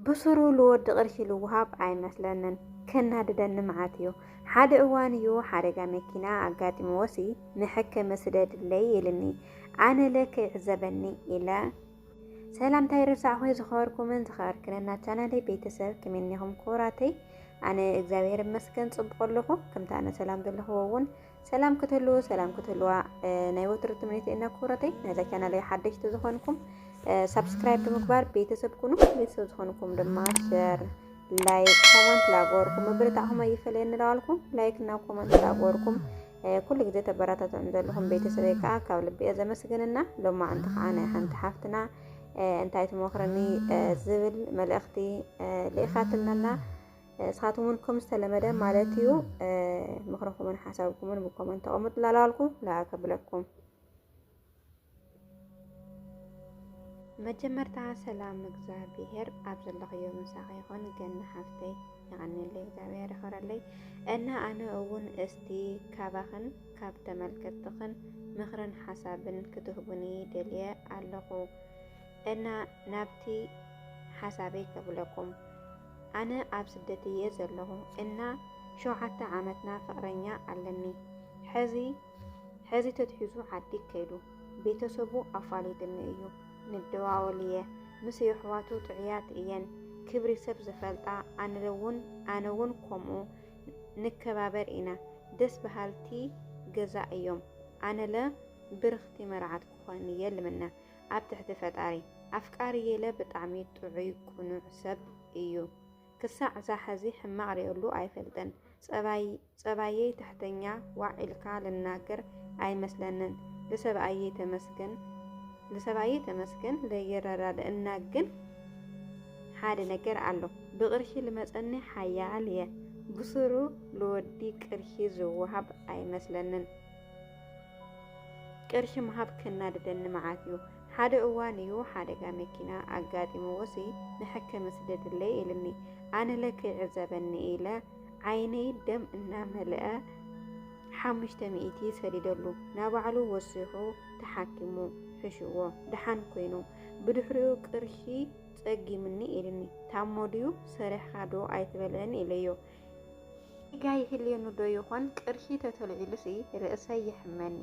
ብሱሩ ልወዲ ቅርሺ ልውሃብ ኣይመስለንን ከናድደኒ መዓት እዩ ሓደ እዋን እዩ ሓደጋ መኪና ኣጋጢምዎሲ መሐከሚ ስደድለይ ኢልኒ ኣነለ ከይዕዘበኒ ኢለ ሰላምታይ ረሳዕኹ ዝኸበርኩምን ዝኸበርክንን ናብ ቻናለይ ቤተሰብ ከመይ ኩራተይ ኣነ እግዚኣብሔር ይመስገን ጽቡቅ ኣለኹ ከምቲ ኣነ ሰላም ዘለኹዎ እውን ሰላም ክትህልዉ ሰላም ክትህልዋ ናይ ወትሩ ትምኒተይ እና ክብረተይ ናይዛ ቻናለይ ሓደሽቲ ዝኾንኩም ሳብስክራይብ ብምግባር ቤተሰብ ኩኑ ቤተሰብ ዝኾንኩም ድማ ሸር ላይክ ኮመንት ላጎርኩም ምብርታዕኹም ኣይፈለየኒ ንለዋልኩም ላይክ እና ኮመንት ላጎርኩም ኩሉ ግዜ ተበራታትዑን ዘለኹም ቤተሰበይ ከዓ ካብ ልቢ እየ ዘመስግንና ሎማዕንቲ ከዓ ናይ ሓንቲ ሓፍትና እንታይ ትመኽርኒ ዝብል መልእኽቲ ልኢኻትልና ንስኻትኩም እውን ከም ዝተለመደ ማለት እዩ ምኽርኹምን ሓሳብኩምን ብኮመንት ተቐምጡ ላላልኩ ላኣ ከብለኩም መጀመርታ ሰላም እግዚኣብሄር ኣብ ዘለኽዮ ምሳኺ ይኹን ገና ሓፍተይ ይቐኒለይ እግዚኣብሄር ይኸረለይ እና ኣነ እውን እስቲ ካባኽን ካብ ተመልከትኽን ምኽርን ሓሳብን ክትህቡኒ ደልየ ኣለኹ እና ናብቲ ሓሳበይ ከብለኩም ኣነ ኣብ ስደት እየ ዘለኹ እና ሸውዓተ ዓመትና ፍቅረኛ ኣለኒ ሐዚ ሐዚ ተትሒዙ ዓዲ ከይዱ ቤተሰቡ ኣፋሊጥኒ እዩ ንደዋወል እየ ምስ የሕዋቱ ጥዑያት እየን ክብሪ ሰብ ዝፈልጣ ኣንለውን ኣነውን ኮምኡ ንከባበር ኢና ደስ በሃልቲ ገዛ እዮም ኣነለ ብርኽቲ መርዓት ክኾን እየ ልምነ ኣብ ትሕቲ ፈጣሪ። ኣፍቃሪ የለ ብጣዕሚ ጥዑይ ቁኑዕ ሰብ እዩ ክሳዕ ዛሐዚ ሕማቅ ሪኤሉ ኣይፈልጥን ፀባይ ፀባየይ ትሕተኛ ዋዕ ኢልካ ልናገር ኣይመስለንን ልሰብኣየይ ተመስገን ልሰብኣየይ ተመስገን ለይረዳደእና ግን ሓደ ነገር ኣሎ ብቅርሺ ልመፀኒ ሓያል እየ ብሱሩ ልወዲ ቅርሺ ዝዋሃብ ኣይመስለንን ቅርሺ ምሃብ ከናድደኒ መዓት እዩ። ሓደ እዋን እዩ ሓደጋ መኪና ኣጋጢምዎሲ ንሕክም ስደድለይ ኢልኒ። ኣነለ ከይዕዘበኒ ኢለ ዓይነይ ደም እናመልአ ሓሙሽተ ሚእቲ ሰዲደሉ ናባዕሉ ወሲኹ ተሓኪሙ ሕሽዎ ደሓን ኮይኑ ብድሕሪኡ ቅርሺ ጸጊምኒ ኢልኒ። ታሞ ድዩ ሰሪሕኻ ዶ ኣይትበልዕን ኢለዮ። ጌጋ ይህልየኒ ዶ ይኾን ቅርሺ ተተልዒሉሲ ርእሰይ የሕመኒ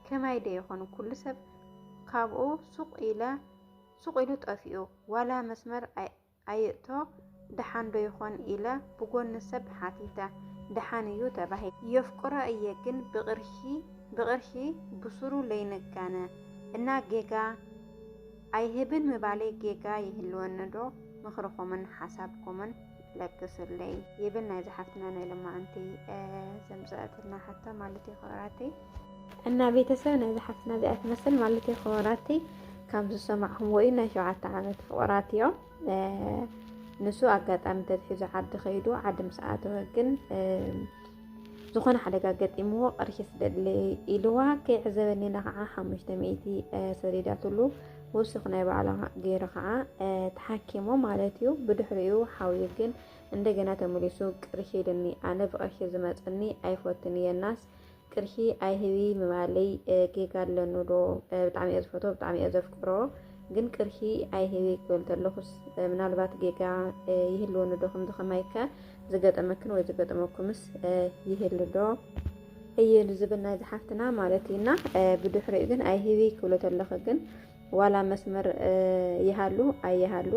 ከማይ ዶ ይኾን ኩሉ ሰብ ካብኡ ሱቕ ኢለ ሱቕ ኢሉ ጠፊኡ ዋላ መስመር ኣይእቶ ደሓን ዶ ይኾን ኢለ ብጎኒ ሰብ ሓቲተ ደሓን እዩ ተባሂሉ የፍቅሮ እየ ግን ብቕርሺ ብቕርሺ ብሱሩ ለይንጋነ እና ጌጋ ኣይህብን ምባለይ ጌጋ ይህልወኒ ዶ ምኽርኹምን ሓሳብኩምን ለግስለይ ይብል ናይዚ ሓፍትና ናይ ለማዓንቲ ዘምፀአትልና ሓታ ማለት እዩ ክበራተይ እና ቤተሰብ ናይዚ ሓፍትና እዚኣ ትመስል ማለት እዩ ክበራተይ ካብ ዝሰማዕኹም ወይ ናይ ሸውዓተ ዓመት ፍቕራት እዮም ንሱ ኣጋጣሚ ተትሒዙ ዓዲ ከይዱ ዓዲ ምስ ኣተወ ግን ዝኾነ ሓደጋ ገጢምዎ ቅርሺ ስደድለይ ኢልዋ ከይዕዘበኒ ኢላ ከዓ ሓሙሽተ ሚእቲ ሰዲዳትሉ ውሱኽ ናይ ባዕላ ገይሩ ከዓ ተሓኪሞ ማለት እዩ። ብድሕሪኡ ሓውዩ ግን እንደገና ተመሊሱ ቅርሺ ኢልኒ ኣነ ብቅርሺ ዝመፀኒ ኣይፈትን እየ ናስ ቅርሺ ኣይህቢ ምባለይ ጌጋ ኣለኑ ዶ ብጣዕሚ እየ ዝፈትዎ ብጣዕሚ እየ ዘፍቅሮ ግን ቅርሺ ኣይህቢ ክብል ተለኹስ ምናልባት ጌጋ ይህልወኒ ዶ ከምዚ ከማይከ ዝገጠመክን ወይ ዝገጠመኩምስ ይህሉ ዶ እዩ ዝብል ናይ ዝሓፍትና ማለት እዩና ብድሕሪኡ ግን ኣይህቢ ክብሎ ተለኸ ግን ዋላ መስመር ይሃሉ ኣይሃሉ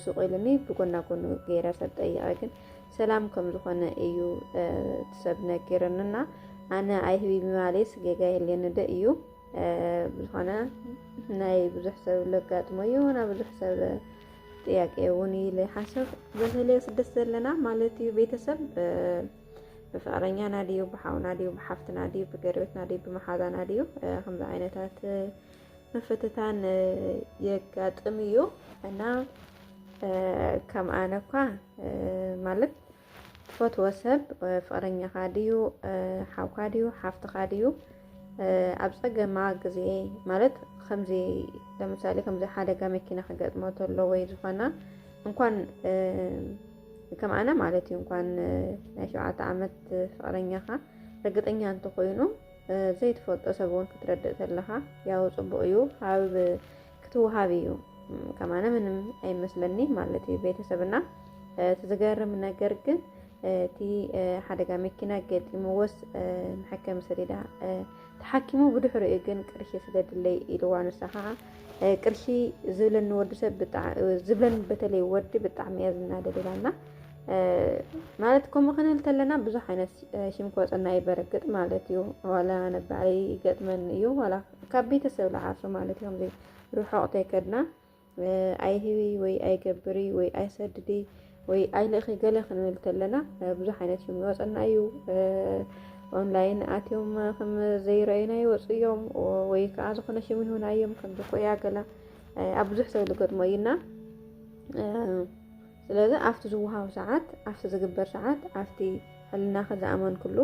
ሱቅ ኢሉኒ ብጎና ጎኑ ገይረ ሰብ ጠይቀ ግን ሰላም ከም ዝኾነ እዩ ሰብ ነጊርንና ኣነ ኣይህቢ ብማሌስ ጌጋ የለን ዶ እዩ ዝኾነ ናይ ብዙሕ ሰብ ለጋጥሞ እዩ ና ብዙሕ ሰብ ጥያቄ እውን ኢለ ሓሰብ በተለይ ስደት ዘለና ማለት እዩ ቤተሰብ ብፍቅረኛና ድዩ ብሓውና ድዩ ብሓፍትና ድዩ ብገርቤትና ድዩ ብመሓዛና ድዩ ከምዚ ዓይነታት ምፍትታን የጋጥም እዩ እና ከም ኣነ እኳ ማለት ትፈትዎ ሰብ ፍቕረኛኻ ድዩ ሓውካ ድዩ ሓፍትኻ ድዩ ኣብ ፀገማ ግዜ ማለት ከምዚ ለምሳሌ ከምዚ ሓደጋ መኪና ክገጥሞ ተሎ ወይ ዝኾና እንኳን ከም ኣነ ማለት እዩ እንኳን ናይ ሸውዓተ ዓመት ፍቕረኛኻ ርግጠኛ እንተኾይኑ ዘይትፈልጦ ሰብ እውን ክትረድእ ተለኻ ያው ፅቡቅ እዩ ኣብ ክትወሃብ እዩ ከማነ ምንም ኣይመስለኒ ማለት እዩ ቤተሰብና እቲ ዝገርም ነገር ግን እቲ ሓደጋ መኪና ገጢምዎስ መሐከሚ ሰሌዳ ተሓኪሙ ብድሕሪ እዩ ግን ቅርሺ ስለድለይ ኢልዋ ንሳ ከዓ ቅርሺ ዝብለኒ ወዲ ሰብ ዝብለኒ በተለይ ወዲ ብጣዕሚ እያ ዝናደደላና ማለት ከምኡ ክንብል ተለና ብዙሕ ዓይነት ሽም ክወፀና እዩ በረግጥ ማለት እዩ ዋላ ነባዕለይ ይገጥመኒ እዩ ዋላ ካብ ቤተሰብ ልዓሶ ማለት ከምዚ ርሑቕ ተይከድና ኣይህቢ ወይ ኣይገብሪ ወይ ኣይሰድዲ ወይ ኣይልእኺ ገለ ክንብል ተለና ብዙሕ ዓይነት ሽም ይወፀና እዩ ኦንላይን ኣትዮም ከም ዘይረኣዩና ይወፁ እዮም ወይ ከዓ ዝኾነ ሽም ይሁን ኣዮም ከም ዝኾያ ገላ ኣብ ብዙሕ ሰብ ዝገጥሞ እዩና ስለዚ ኣብቲ ዝወሃብ ሰዓት፣ ኣብቲ ዝግበር ሰዓት፣ ኣብቲ ሕልናኺ ዝኣመንክሉ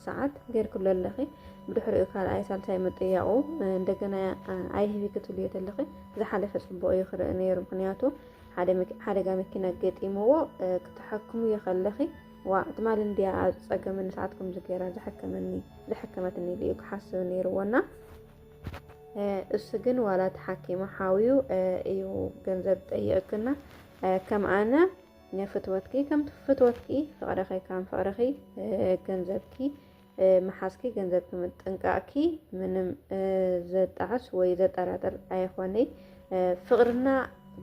ሰዓት ጌርክሉ ኣለኺ። ብድሕሪኡ ካልኣይ ሳልሳይ ምጥያቑ እንደገና ኣይህቢ ክትብልዮ ተለኺ ዝሓለፈ ጽቡቕ እዩ ክርኢ ነይሩ። ምክንያቱ ሓደጋ መኪና ገጢምዎ ክተሐክምዮ ከለኺ ዋ ትማሊ እንድያ ኣብ ጸገመኒ ሰዓት ከምዚ ገይራ ዝሐከመኒ ዝሐከመትኒ ኢሉ እዩ ክሓስብ ነይርዎና እሱ ግን ዋላ ተሓኪሙ ሓውዩ እዩ ገንዘብ ጠይቕክና ከም ኣነ ፍትወትኪ ከምቲ ፍትወትኪ ፍቕረኺ ከም ፍቕረኺ ገንዘብኪ መሓዝኪ ገንዘብኪ ምጥንቃቕኪ ምንም ዘጣዕስ ወይ ዘጠራጥር ኣይኾነይ ፍቕርና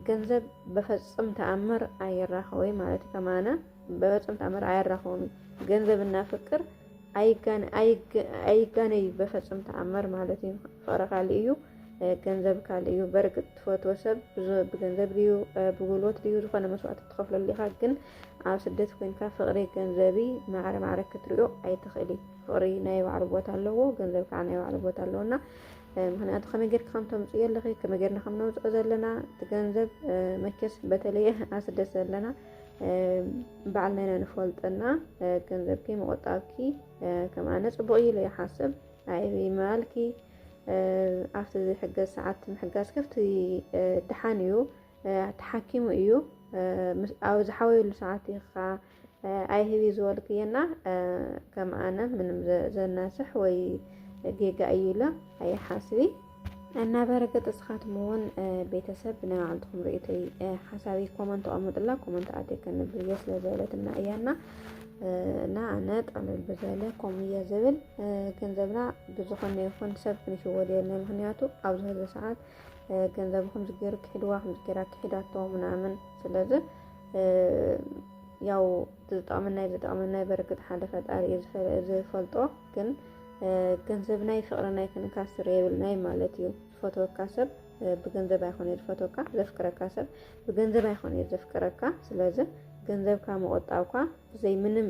ገንዘብ በፈጽም ተኣምር ኣይራኸወይ ማለት ከማና በፍጹም ታምር ኣያራኽቦም እዩ። ገንዘብና ፍቅር ኣይጋነይ በፈጹም ተኣምር ማለት እዩ። ፍቅሪ ካልእ እዩ፣ ገንዘብ ካልእ እዩ። በርግጥ ትፈትዎ ሰብ ብገንዘብ ድዩ ብጉልበት ድዩ ዝኾነ መስዋእቲ ትኸፍለሉ ኢኻ። ግን ኣብ ስደት ኮንካ ፍቅሪ ገንዘቢ ማዕረ ማዕረ ክትሪኦ ኣይትኽእሊ። ፍቅሪ ናይ ባዕሉ ቦታ ኣለዎ፣ ገንዘብ ከዓ ናይ ባዕሉ ቦታ ኣለዎ እና ምክንያቱ ከመይ ጌርካ ከም ተምፅኡ የለኺ ከመይ ጌርና ከም ነውፅኦ ዘለና እቲ ገንዘብ መቸስ በተለየ ኣስደስ ዘለና በዓል መነ ንፈልጥና ገንዘብኪ ምቑጣብኪ ከምኣነ ፅቡቕ እዩ ኢለ ይሓስብ ኣይቢ ምባልኪ ኣብቲ ዝሕገዝ ሰዓት ምሕጋዝ ከፍቲ ድሓን እዩ ተሓኪሙ እዩ ኣብ ዝሓወየሉ ሰዓት ኢኻ ኣይህቢ ዝበልክየና ከምኣነ ምንም ዘናስሕ ወይ ጌጋ እዩ ኢለ ኣይሓስቢ እና በርግጥ እስኻትኩም እውን ቤተሰብ ብናይ ባዕልትኩም ርእይቶይ ሓሳብይ ኮመንት ተቐምጡላ ኮመንት ኣትየ ከንብብ እየ ስለ ዝበለትና እያ እና እና ኣነ ጠለል ብዘለ ኮም እየ ዝብል ገንዘብና ብዝኾነ ይኹን ሰብ ክንሽወድ የለን ምክንያቱ ኣብዚ ህዚ ሰዓት ገንዘብ ከምዚ ገይሩ ክሒድዋ ከምዚ ገይራ ክሒዳቶ ምናምን ስለዚ ያው ዝጠቕመና ዝጠቕመና በርግጥ ሓደ ፈጣሪ እዩ ዝፈልጦ ግን ገንዘብ ናይ ፍቅሪ ናይ ክንካ ስረ የብልናይ ማለት እዩ ዝፈትወካ ሰብ ብገንዘብ ኣይኮነ ዝፈትወካ ዘፍቅረካ ሰብ ብገንዘብ ኣይኮነ ዘፍቅረካ ስለዚ ገንዘብካ ምቆጣብኳ ብዘይ ምንም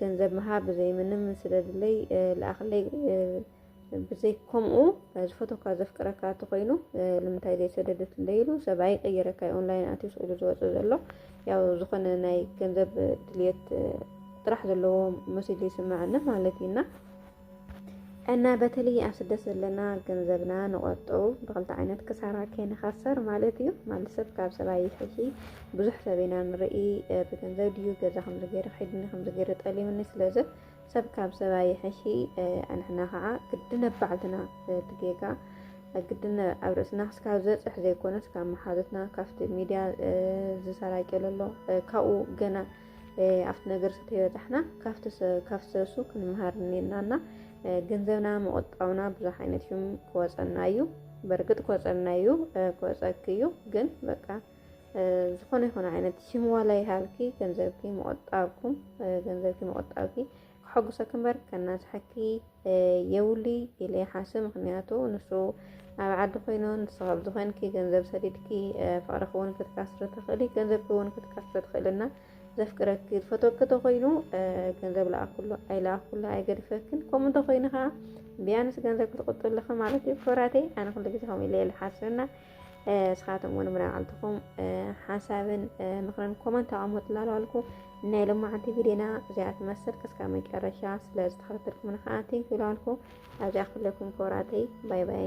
ገንዘብ ምሃብ ብዘይ ምንም ስለድለይ ልኣክለይ ብዘይ ከምኡ ዝፈተካ ዘፍቅረካ እንተኮይኑ ንምንታይ ዘይሰደደት እንደይሉ ሰብ ኣይቀይረካ ኦንላይን ኣትዩ ስኢሉ ዝወፅእ ዘሎ ያው ዝኾነ ናይ ገንዘብ ድልየት ጥራሕ ዘለዎ መሲሉ ይስምዐና ማለት እዩና እና በተለይ ኣብ ስደት ዘለና ገንዘብና ንቆጠቡ ብክልተ ዓይነት ክሳራ ከይንኸሰር ማለት እዩ ማለት ሰብ ካብ ሰብ ኣይፍሒ ብዙሕ ሰብ ኢና ንርኢ ብገንዘብ ድዩ ገዛ ከምዚ ገይረ ከይድኒ ከምዚ ገይረ ጠሊምኒ ስለዚ ሰብ ካብ ሰብ ኣይሕሺ ኣንሕና ከዓ ግድን ኣብ ባዕልትና እቲ ጌጋ ግድን ኣብ ርእስና ክስካብ ዘፅሕ ዘይኮነስ ካብ መሓዙትና ካብቲ ሚድያ ዝሰራጨ ዘሎ ካብኡ ገና ኣብቲ ነገር ዝተበፃሕና ካብቲ ሰሱ ክንምሃር እኒናና ገንዘብና መቆጣብና ብዙሕ ዓይነት ሽም ክወፀና እዩ። በርግጥ ክወፀና እዩ ክወፀክ እዩ ግን በቃ ዝኾነ ይኹን ዓይነት ሽም ዋላ ይሃልኪ ገንዘብኪ ምቑጣብኩም ገንዘብኪ ምቑጣብኪ ክሐጉሰኪ እምበር ከናስሐኪ የውሊ ኢለ ይሓስብ ምክንያቱ ንሱ ኣብ ዓዲ ኮይኑ ንሱ ካብ ዝኾንኪ ገንዘብ ሰዲድኪ ፍቅርኪ እውን ክትካስሪ ትኽእሊ ገንዘብኪ እውን ክትካስሪ ትኽእልና ዘፍቅረኪ ዝፈተወኪ ተኮይኑ ገንዘብ ለኣኩሉ ኣይለኣኩሉ ኣይገድፈክን ከምኡ እንተኮይኑ ከዓ ቢያንስ ገንዘብ ክትቁጥብልኺ ማለት እዩ ክብራተይ ኣነ ኩሉ ግዜ ከምኡ ኢለ ይሓስብና ንስኻትኩም እውን ብናዕልትኹም ሓሳብን ምኽርን ኮመንት ኣቐምጡ ላልዋልኩ ናይ ሎማዓንቲ ቪድዮና እዚኣ ትመስል ክስካ መጨረሻ ስለ ዝተኸታተልኩምና ከዓ ቴንክ ላልኩ ኣብዚኣ ክለኩም ኮራተይ ባይ ባይ